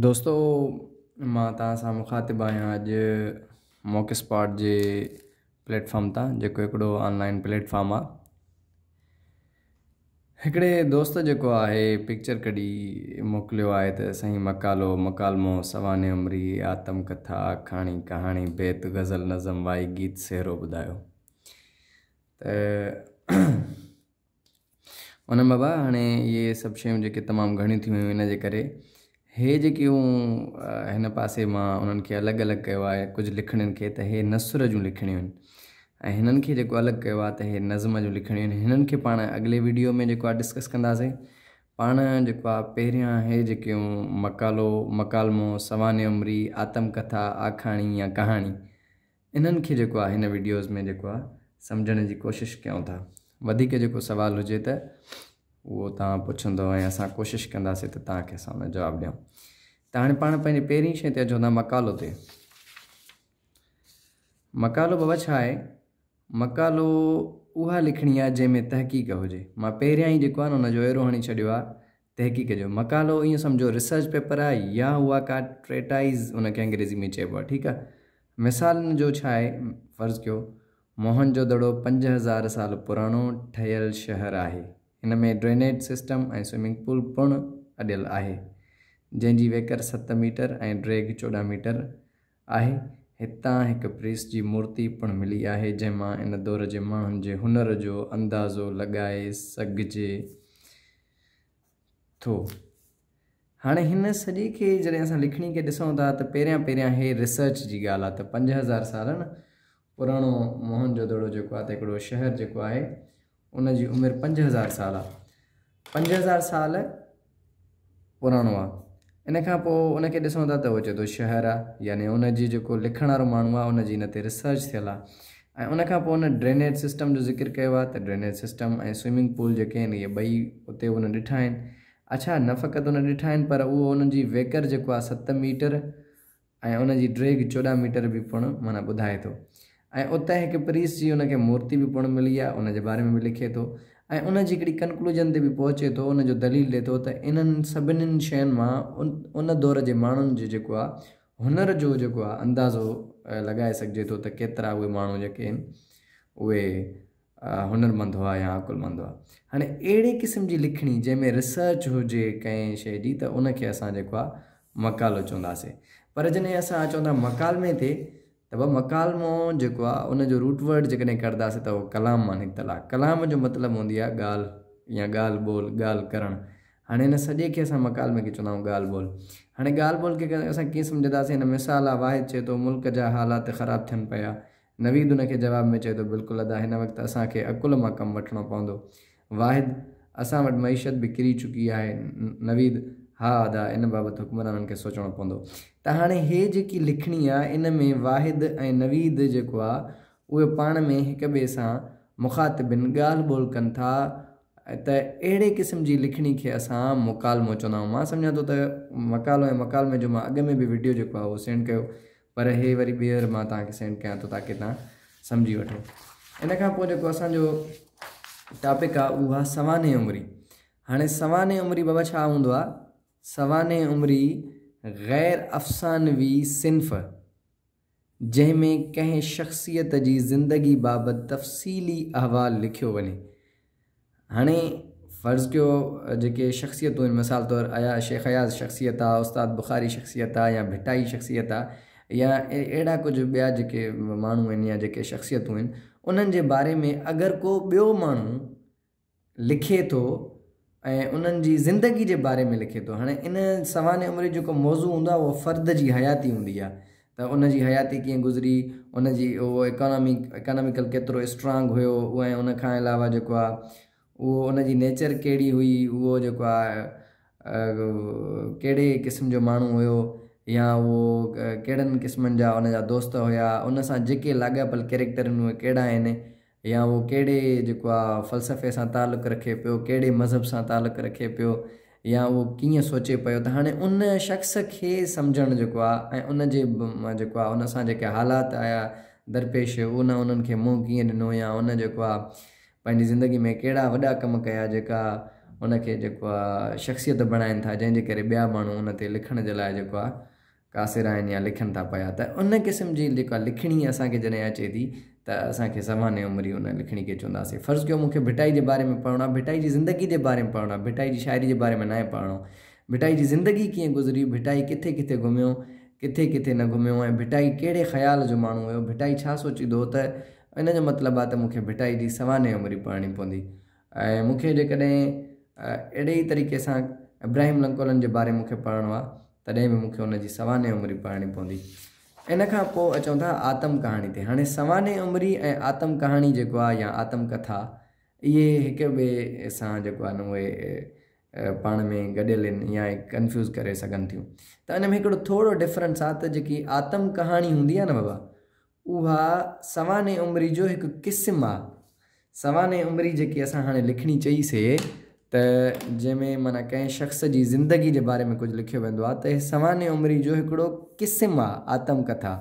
دوستو مان توهان سان مخاطب آهيان اڄ موڪ اسپاٽ جي پليٽ فارم تان جيڪو هڪڙو آنلائن پليٽ فارم آ هڪڙي دوست جيڪو آهي پڪچر ڪڍي موڪليو آهي ته سائين مقالو مڪالمو سوانح عمري آتم ڪٿا آکاڻي ڪهاڻي بيت غزل نظم وائي گيت سهرو ٻڌايو ته انعم بابا هاڻي اهي سڀ شيون جيڪي تمام گهڻيون ٿيون هيون ان جي ڪري هي جيڪي مون هن پاسي مان انهن کي الڳ الڳ ڪيو آهي ڪجهه لکڻين کي ته هي نثر جون لکڻيون آهن ۽ هنن کي جيڪو الڳ ڪيو آهي ته هي نظم جون لکڻيون آهن هنن کي پاڻ اڳلي ويڊيو ۾ جيڪو آهي ڊسڪس ڪنداسين پاڻ جيڪو آهي پهريان هي جيڪي مقالو مڪالمو سوانح عمري آتم ڪٿا آکاڻي يا ڪهاڻي انهن کي جيڪو آ هن وڊيوز ۾ جيڪو آ سمجهڻ جي ڪوشش ڪيون ٿا وڌيڪ جيڪو سوال هجي ته اهو توهان پڇندو ۽ اسان ڪوشش ڪنداسي ته توهان کي اسان ان جو جواب ڏيون ته هاڻي پاڻ پنهنجي پهرين شئي تي اچون ٿا مقالو تي مقالو بابا ڇا آهي مقالو اها لکڻي آهي جنهن ۾ تحقيق هجي مان پهريان ئي جيڪو آهي نه ان جو ايرو هڻي ڇڏيو آهي تحقيق جو مقالو ايئن سمجهو ريسرچ پيپر آهي يا اها ڪا ٽريٽائيز ان کي انگريزي ۾ چئبو آهي ٺيڪ آهي مثالن جو ڇا آهي فرض ڪيو موهن جو دڙو پنج هزار سال پراڻو ٺهيل شهر آهي ان ۾ ڊرينيج سسٽم ۽ سوئمنگ پول پڻ اڏيل آهي جنهن جي ويڪر ست ميٽر ۽ ڊريگ چوڏهن ميٽر آهي. هتان هڪ پريس جي مورتي پڻ ملي آهي، جنهن مان ان دور جي ماڻهن جي هنر جو اندازو لڳائي سگهجي ٿو. هاڻي هن سڄي کي جڏهن اسان لکڻي کي ڏسون ٿا ته پهريان پهريان هي ريسرچ جي ڳالهه آهي ته پنج هزار سالن پراڻو موهن جودڙو جيڪو آهي ته هڪڙو شهر جيڪو آهي ان جي عمر پنج هزار سال آ پنج هزار سال پراڻو آ ان کان پوء ان کي ڏسون ٿا ته هو چئي ٿو شهر آ يعني ان جي جيڪو لکڻ وارو ماڻهو آ ان جي ان تي ريسرچ ٿيل آ ۽ ان کان پوء ان ڊرينيج سسٽم جو ذڪر ڪيو آ ته ڊرينيج سسٽم ۽ سوئمنگ پول جيڪي آهن اهي ٻئي اتي ان ڏٺا آهن اڇا نه فقط ان ڏٺا آهن پر اهو ان جي ويڪر جيڪو آ ست ميٽر ۽ ان جي ڊيگهه چوڏهن ميٽر به پڻ معنيٰ ٻڌائي ٿو ۽ اتي هڪ پريس جي ان کي مورتي به پڻ ملي آهي ان جي باري ۾ به لکي ٿو ۽ ان جي هڪڙي ڪنڪلوجن تي به پهچي ٿو ان جو دليل ڏي ٿو ته انهن سڀنين شين مان ان دور جي ماڻهن جو جيڪو آهي هنر جو جيڪو آهي اندازو لڳائي سگهجي ٿو ته ڪيترا اهي ماڻهو جيڪي اهي هنرمند هئا يا عقلمند هئا. هاڻي اهڙي قسم جي لکڻي جنهن ۾ ريسرچ هجي ڪنهن شيء جي ته ان کي اسان جيڪو آهي مقالو چونداسين. پر جڏهن اسان چون ٿا مڪالمي تي ته به مڪالمو جيڪو آهي ان جو روٽ ورڊ جيڪڏهن ڪڍنداسين ته اهو ڪلام مان نڪتل آهي. ڪلام جو مطلب هوندي آهي ڳالهه يا ڳالهه ٻولهه ڳالهه ڪرڻ. هاڻي ان سڄي کي اسان مڪالمي کي چوندا آهيون ڳالهه ٻولهه. هاڻي ڳالهه ٻولهه کي اسان ڪيئن سمجهنداسين هن مثال آهي واحد چئي ٿو ملڪ جا حالات خراب ٿين پيا نويد ان کي جواب ۾ چئي ٿو، بلڪل ادا، هن وقت اسان کي عقل مان ڪم وٺڻو پوندو. واحد، اسان وٽ معيشت به ڪري چڪي آهي. نويد، ها ادا، ان بابت حڪمرانن کي سوچڻو پوندو. ته هاڻي هي جيڪي لکڻي آ، ان ۾ واحد ۽ نويد جيڪو آ، اهي پاڻ ۾ هڪ ٻئي سان مخاطبين ڳالهه ٻولهه ڪن ٿا ته اهڙي قسم جي لکڻي کي اسان مڪالمو چوندا آهيون. مان سمجهان ٿو ته مڪالو ۽ مڪالمي جو مان اڳ ۾ به وڊيو جيڪو آ اهو سينڊ ڪيو پر هي وري ٻيهر مان توهان کي سينڊ ڪيان ٿو تاڪي توهان سمجهي وٺو ان کان پوء جيڪو اسان جو ٽاپڪ آ اهو آ سوانح عمري هاڻي سوانح عمري بابا ڇا هوندو آ سوانح عمري غير افسانوي صنف جنهن ۾ ڪنهن شخصيت جي زندگي بابت تفصيلي احوال لکيو وڃي هاڻي فرض ڪيو جيڪي شخصيتون آهن مثال طور آيا شيخ اياز شخصيت آ استاد بخاري شخصيت آ يا ڀٽائي شخصيت آ يا اهڙا ڪجهه ٻيا جيڪي ماڻهو آهن يا جيڪي شخصيتون آهن انهن جي باري ۾ اگر ڪو ٻيو ماڻهو لکي ٿو ۽ انهن جي زندگي جي باري ۾ لکي ٿو هاڻي ان سوانح عمري جيڪو موضوع هوندو آ اهو فرد جي حياتي هوندي آ ته ان جي حياتي ڪيئن گذري، ان جي اهو اڪانامي اڪاناميڪل ڪيترو اسٽرانگ هيو ۽ ان کان علاوه جيڪو آهي اهو ان جي نيچر ڪهڙي هئي، اهو جيڪو آهي ڪهڙي قسم جو ماڻهو هيو يا اهو ڪهڙن قسمن جا ان جا دوست هيا، ان سان جيڪي لاڳاپيل ڪيريڪٽر آهن اهي ڪهڙا آهن. يا هو ڪهڙي جيڪو آ فلسفي سان تعلق رکي پيو، ڪهڙي مذهب سان تعلق رکي پيو يا هو ڪيئن سوچي پيو ته هاڻي ان شخص کي سمجهڻ جيڪو آ ۽ ان جي جيڪو آ ان سان جيڪي حالات آيا درپيش ان انهن کي منهن ڪيئن ڏنو يا ان جيڪو آ پنهنجي زندگي ۾ ڪهڙا وڏا ڪم ڪيا جيڪا ان کي جيڪو آ شخصيت بڻائين ٿا جنهن جي ڪري ٻيا ماڻهو ان تي لکڻ جي لاء جيڪو آ ڪاسر آهن يا لکن ٿا پيا ته ان قسم جي جيڪا لکڻي اسان کي جڏهن اچي ٿي ته اسان کي سوانح عمري ان لکڻي کي چونداسين فرض ڪيو مون کي ڀٽائي جي باري ۾ پڙهڻو آهي ڀٽائي جي زندگي جي باري ۾ پڙهڻو آهي ڀٽائي جي شاعري جي باري ۾ ناهي پڙهڻو ڀٽائي جي زندگي ڪيئن گذري ڀٽائي ڪٿي ڪٿي گهميو ڪٿي ڪٿي نه گهميو ۽ ڀٽائي ڪهڙي خيال جو ماڻهو هيو ڀٽائي ڇا سوچيندو هو ته ان جو مطلب آهي ته مون کي ڀٽائي جي سوانح عمري پڙهڻي پوندي ۽ مون کي جيڪڏهن اهڙي ئي طريقي سان ابراهيم لنڪولن جي باري مون کي پڙهڻو آ تڏهن به مون کي ان جي سوانح عمري پڙهڻي پوندي. ان کان پوء اچون ٿا آتم ڪهاڻي تي. هاڻي سوانح عمري ۽ آتم ڪهاڻي جيڪو آ يا آتم ڪٿا اهي هڪ ٻئي سان جيڪو آهن اهي پاڻ ۾ گڏيل ان يا ڪنفيوز ڪري سگهن ٿيون ته ان ۾ هڪڙو ٿورو ڊفرنس آ ته جيڪي آتم ڪهاڻي هوندي آ نه بابا اها سوانح عمري جو هڪ قسم آ. سوانح عمري جيڪي اسان هاڻي لکڻي چئي سي ته جنهن ۾ معنيٰ ڪنهن شخص جي زندگي جي باري ۾ ڪجهه لکيو ويندو آ ته اهي سوانح عمري جو هڪڙو قسم آ آتم ڪٿا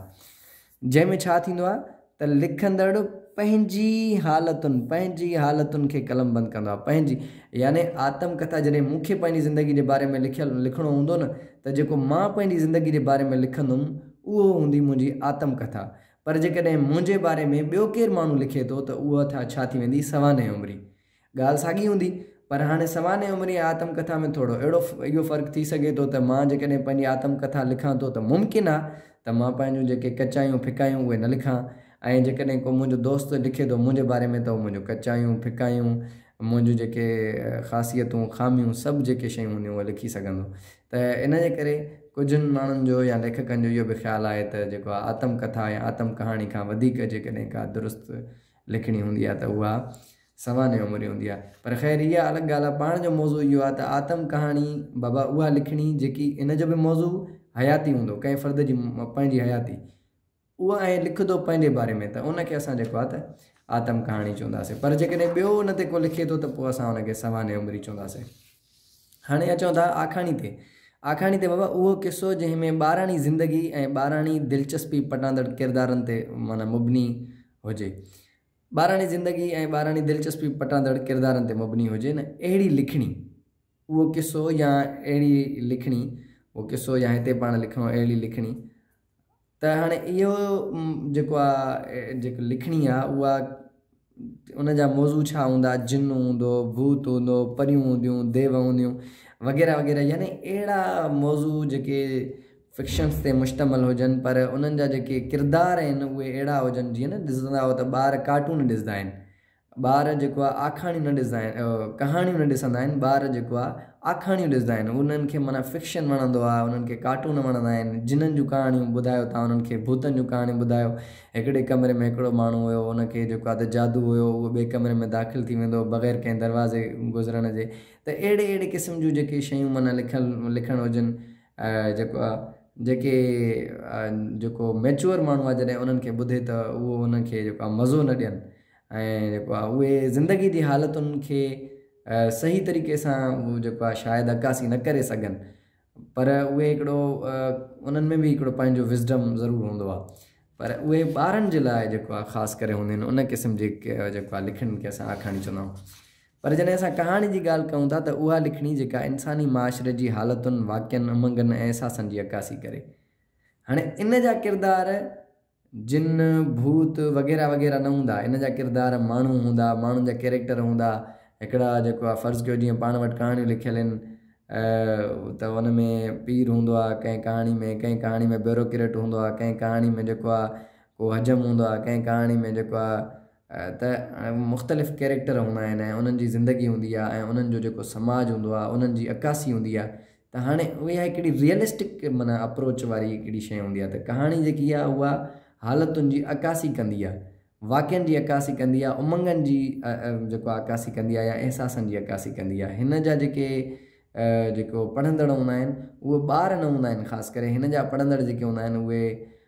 جنهن ۾ ڇا ٿيندو آ ته لکندڙ پنهنجي حالتن پنهنجي حالتن کي قلم بند ڪندو آ پنهنجي يعني آتم ڪٿا جڏهن مون کي پنهنجي زندگي جي باري ۾ لکيل لکڻو هوندو نه ته جيڪو مان پنهنجي زندگي جي باري ۾ لکندم اهو هوندي منهنجي آتم ڪٿا. پر جيڪڏهن منهنجي باري ۾ ٻيو ڪير ماڻهو لکي ٿو ته اها ٿا ڇا ٿي ويندي سوانح عمري. ڳالهه ساڳي هوندي. پر هاڻي سوانح عمري ۽ آتم ڪٿا ۾ ٿورو اهڙو اهو فرق ٿي سگهي ٿو ته مان جيڪڏهن پنهنجي آتم ڪٿا لکان ٿو ته ممڪن آ ته مان پنهنجون جيڪي ڪچايون ڦڪايون اهي نه لکان ۽ جيڪڏهن ڪو منهنجو دوست لکي ٿو منهنجي باري ۾ ته اهو منهنجون ڪچايون ڦڪايون منهنجون جيڪي خاصيتون خاميون سڀ جيڪي شيون هونديون اهي لکي سگهندو. ته ان جي ڪري ڪجهن ماڻهن جو يا ليکڪن جو اهو به خيال آهي ته جيڪو آهي آتم ڪٿا يا آتم ڪهاڻي کان وڌيڪ جيڪڏهن ڪا درست لکڻي هوندي آهي ته اها سوانح عمري هوندي آهي. پر خير اها الڳ ڳالهه آهي. پاڻ جو موضوع اهو آهي ته آتم ڪهاڻي بابا اها لکڻي جيڪي ان جو به موضوع حياتي هوندو ڪنهن فرد جي پنهنجي حياتي. اهو ائين لکي ٿو پنهنجي باري ۾ ته ان کي اسان جيڪو آهي ته آتم ڪهاڻي چونداسين پر جيڪڏهن ٻيو ان تي ڪو لکي ٿو ته پوء اسان ان کي سوانح عمري چونداسين. هاڻي اچون ٿا آکاڻي تي. آکاڻي تي بابا اهو قصو جنهن ۾ ٻاراڻي زندگي ۽ ٻاراڻي دلچسپي پٽاندڙ ڪردارن تي معنيٰ مبني هجي. ٻاراڻي زندگي ۽ ٻاراڻي دلچسپي پٽاندڙ ڪردارن تي مبني هجي نه اهڙي لکڻي. اهو قصو يا اهڙي لکڻي، اهو قصو يا هتي پاڻ لکڻو اهڙي لکڻي، ته هاڻي اهو جيڪو آ جيڪو لکڻي آ اها ان جا موضوع ڇا هوندا، جن هوندو، ڀوت هوندو، پريون هونديون، ديو هونديون وغيره وغيره يعني اهڙا موضوع جيڪي فڪشنس تي مشتمل هجن پر انهن جا جيڪي ڪردار آهن اهي اهڙا هجن جيئن نه ڏسندا آهيو ته ٻار ڪارٽون ڏسندا آهن ٻار جيڪو آ آکاڻيون نه ڏسندا آهن ڪهاڻيون نه ڏسندا آهن ٻار جيڪو آ آکاڻيون ڏسندا آهن انهن کي معنيٰ فڪشن وڻندو آهي انهن کي ڪارٽون وڻندا آهن جنن جون ڪهاڻيون ٻڌايو تان انهن کي ڀوتن جون ڪهاڻيون ٻڌايو هڪڙي ڪمري ۾ هڪڙو ماڻهو هيو ان کي جيڪو آ ته جادو هيو اهو ٻئي ڪمري ۾ داخل ٿي ويندو هو بغير ڪنهن دروازي گذرڻ جي ته اهڙي اهڙي قسم جون جيڪي شيون معنيٰ لکيل لکڻ هجن جيڪو آ جيڪي جيڪو ميچوئر ماڻهو آ جڏهن انهن کي ٻڌي ته اهو انهن کي جيڪو آ مزو نه ڏين ۽ جيڪو آهي اهي زندگي جي حالتن کي صحيح طريقي سان جيڪو آهي شايد عڪاسي نه ڪري سگهن پر اهي هڪڙو انهن ۾ به هڪڙو پنهنجو وزڊم ضرور هوندو آهي پر اهي ٻارن جي لاء جيڪو آهي خاص ڪري هونديون آهن ان قسم جي جيڪو آهي لکڻين کي اسان آکاڻي چوندا آهيون پر جڏهن اسان ڪهاڻي جي ڳالهه ڪيون ٿا ته اها لکڻي جيڪا انساني معاشري جي حالتن واقعن امنگن ۽ احساسن جي عڪاسي ڪري هاڻي ان جا ڪردار جن، ڀوت وغيره وغيره نه هوندا، ان جا ڪردار ماڻهو هوندا، ماڻهن جا ڪيريڪٽر هوندا، هڪڙا جيڪو آ فرض ڪيو جيئن پاڻ وٽ ڪهاڻيون لکيل آهن ته ان ۾ پير هوندو آ ڪنهن ڪهاڻي ۾ ڪنهن ڪهاڻي ۾ بيروڪريٽ هوندو آ ڪنهن ڪهاڻي ۾ جيڪو آ ڪو حجم هوندو آ ڪنهن ڪهاڻي ۾ جيڪو آ ته مختلف ڪيريڪٽر هوندا آهن ۽ انهن جي زندگي هوندي آ ۽ انهن جو جيڪو سماج هوندو آ انهن جي عڪاسي هوندي آ ته هاڻي اها هڪڙي ريئلسٽڪ معنيٰ اپروچ واري هڪڙي شيء هوندي آهي ته ڪهاڻي جيڪي آهي اها حالتن جي عڪاسي ڪندي آهي، واقعن جي عڪاسي ڪندي آهي، امنگن جي جيڪو آهي عڪاسي ڪندي آهي يا احساسن جي عڪاسي ڪندي آهي. هن جا جيڪي جيڪو پڙهندڙ هوندا آهن اهي ٻار نه هوندا آهن خاص ڪري هن جا پڙهندڙ جيڪي هوندا آهن اهي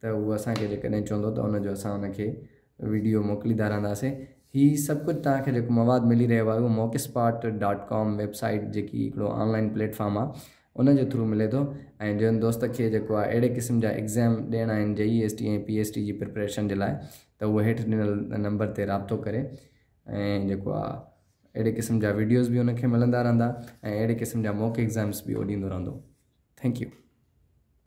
ته هو اسان کي جيڪڏهن چوندو ته ان جو اسان ان کي وڊيو موڪلي ڌارنداسين. هي سڀ ڪجهه توهان کي جيڪو مواد ملي رهيو آهي اهو Mockspot dot com website جيڪي هڪڙو آن لائين پليٽ فارم آهي ان جي ٿرو ملي ٿو ۽ جنهن دوست کي جيڪو آهي اهڙي قسم جا ايگزيم ڏيڻا آهن J E S T ۽ P S T جي پريپريشن جي لاء ته هو هيٺ ڏنل نمبر تي رابطو ڪري ۽ جيڪو آهي اهڙي قسم جا وڊيوز به ان کي ملندا رهندا ۽ اهڙي قسم جا موڪ ايگزيمس به هو ڏيندو رهندو ٿينڪ يو.